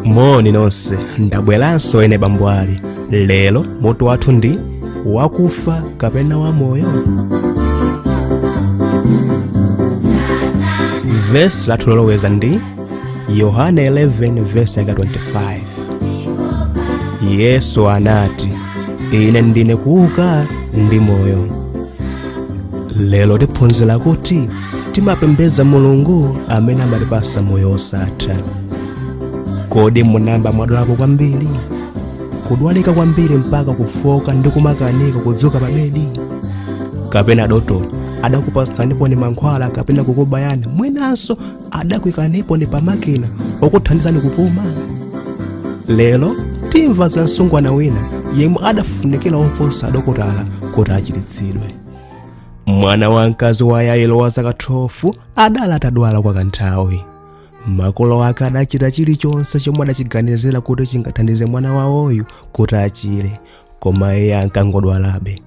moni nonse ndabweranso ine bambo ali lero mutu wathu ndi wakufa kapena wamoyo vesi lathu loloweza ndi yohane 11 vesi yake 25 yesu anati ine ndine kuuka ndi moyo lero tiphunzira kuti timapembedza mulungu amene amatipasa moyo wosatha kodi munayamba mwadwalako kwambiri kudwalika kwambiri mpaka kufooka ndi kumakanika kudzuka pabedi kapena adotolo adakupatsaniponi mankhwala kapena kukubayani mwinanso adakuikaniponi pamakina okuthandizani kupuma lero timva za msungwana wina yemwe adafunikira oposa adokotala kuti achiritsidwe mwana wamkazi wa yairo wa zaka 12 adali atadwala kwa kanthawi makolo ake adachita chilichonse chomwe adachiganizira kuti chingathandize mwana wawoyu kuti achire koma iye ankangodwalabe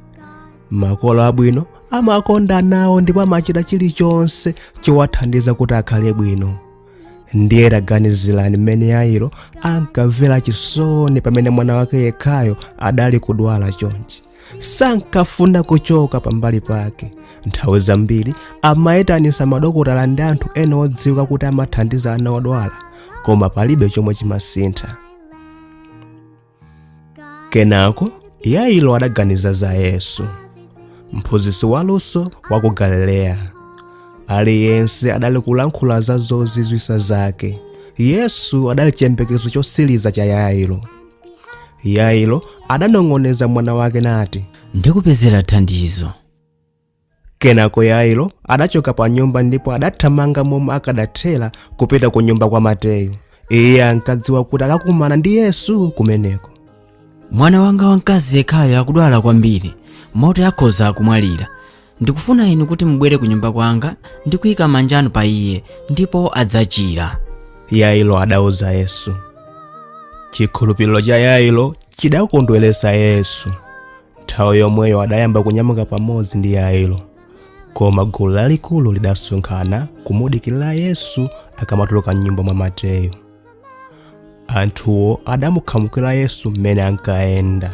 makolo abwino amakonda ana awo ndipo amachita chilichonse chowathandiza kuti akhale bwino ndiye taganizirani mmene yairo ankamvera chisoni pamene mwana wake yekhayo adali kudwala chonchi sankafuna kuchoka pambali pake nthawi zambiri amayitanisa madokotala ndi anthu ena odziwika kuti amathandiza ana odwala koma palibe chomwe chimasintha kenako yairo adaganiza za yesu mphunzitsi waluso wa ku galileya aliyense adali kulankhula za zozizwisa zake yesu adali chiyembekezo chosiliza cha yairo yairo adanong'oneza mwana wake nati ndikupezera thandizo Kenako Yairo adachoka pa nyumba ndipo adathamanga momwe akadathera kupita ku nyumba kwa Mateyu. Iye ankadziwa kuti akakumana ndi Yesu kumeneko. mwana wanga wamkazi yekhayo akudwala kwambiri moti akhoza kumwalira ndikufuna inu kuti mubwere ku nyumba kwanga ndi kuyika manja anu pa iye ndipo adzachira Yairo adauza Yesu. Chikhulupiriro cha Yairo chidakondweretsa Yesu. nthawi yomweyo adayamba kunyamuka pamodzi ndi yairo koma gulu lalikulu lidasonkhana kumudikirira yesu akamatuluka m'nyumba mwa mateyu anthuwo adamukhamukira yesu mmene ankayenda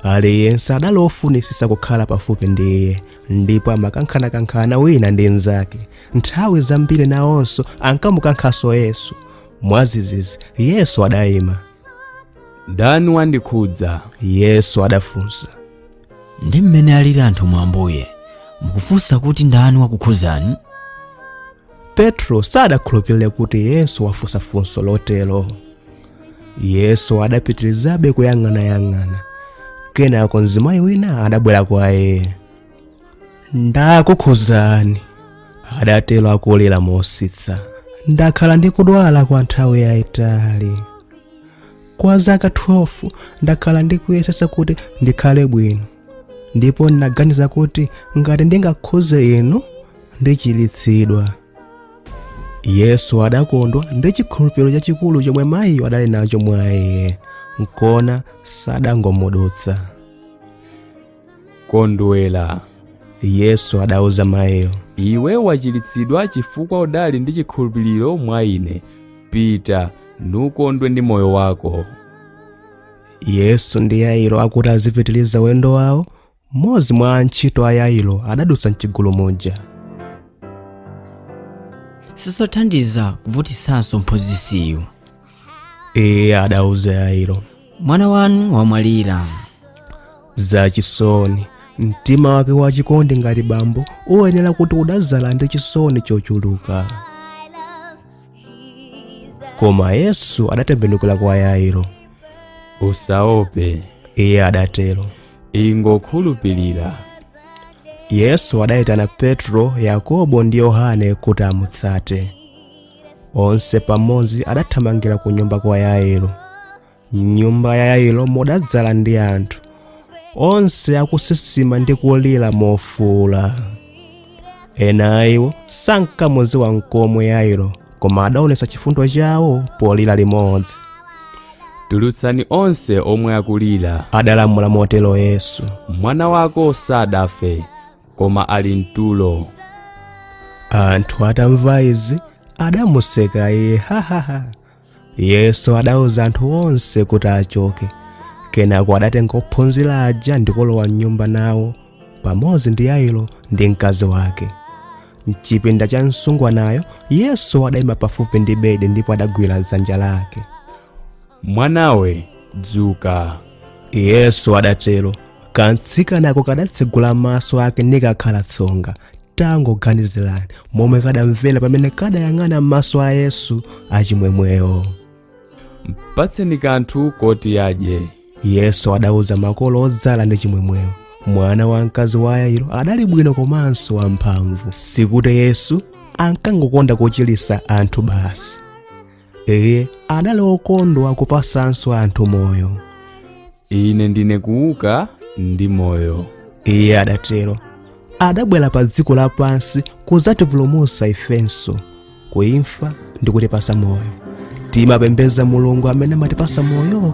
aliyense adali ofunitsitsa kukhala pafupi ndi iye ndipo amakankhanakankhana wina ndi mnzake nthawi zambiri nawonso ankamukankhanso yesu mwadzidzidzi yesu adayima ndani wandikhudza yesu adafunsa ndi mmene alili anthu mwa ambuye mukufunsa kuti ndani wakukhudzani petro sadakhulupirire kuti yesu wafunsa funso lotero yesu adapitirizabe kuyang'anayang'ana kenako mzimayi wina adabwera kwa iye ndakukhudzani adatero akulira mositsa ndakhala ndikudwala kwa nthawi yayitali kwa zaka 12 ndakhala ndikuyesetsa kuti ndikhale bwino ndipo ndinaganiza kuti ngati ndingakhudze inu ndichiritsidwa yesu adakondwa ndi chikhulupiriro chachikulu chomwe mayiyo adali nacho mwa iye nkona sadangomudutsa kondwera yesu adauza mayiyo iwe wachiritsidwa chifukwa udali ndi chikhulupiriro mwa ine pita nukondwe ndi moyo wako yesu ndi yairo akuti azipitiriza ulendo wawo mmodzi mwa antchito a yairo adadutsa mchigulu muja sizothandiza kuvutitsanso mphunzitsiyu iye adauza yairo mwana wanu wamwalira zachisoni mtima wake wachikondi ngati bambo uyenera kuti udadzala ndi chisoni chochuluka koma yesu adatembenukira kwa yairo usaope iye adatero ingokhulupirira yesu adayitana petro yakobo ndi yohane kuti amutsate onse pamodzi adathamangira ku nyumba kwa yairo nyumba ya yairo mudadzala ndi anthu onse akusisima ndi kulira mofuula ena a iwo sankamudziwa nkomwe yairo koma adaonetsa chifundo chawo polira limodzi tulutsani onse omwe akulira adalamula motero yesu mwana wako sadafe koma ali mtulo anthu atamva izi adamuseka iye hahaha yesu adauza anthu onse kuti achoke kenako adatenga ophunzira aja ndikulowa mnyumba nawo pamodzi ndi yairo ndi mkazi wake mchipinda cha msungwanayo yesu adayima pafupi ndi bedi ndipo adagwira dzanja lake mwanawe dzuka yesu adatero kamtsikanako kadatsegula maso ake nikakhala tsonga tangoganizirani momwe kadamvera pamene kadayang'ana mmaso a yesu achimwemwewo mpatseni kanthu koti adye yesu adauza makolo odzala ndi chimwemwewo mwana wamkazi wa yairo adali bwino komanso wamphamvu sikuti yesu ankangokonda kuchiritsa anthu basi iye adali okondwa kupasanso anthu moyo ine ndine kuuka ndi moyo iye adatero adabwera pa dziko lapansi kudzatipulumutsa ifenso kuimfa ndi kutipasa moyo timapembeza mulungu amene amatipasa moyo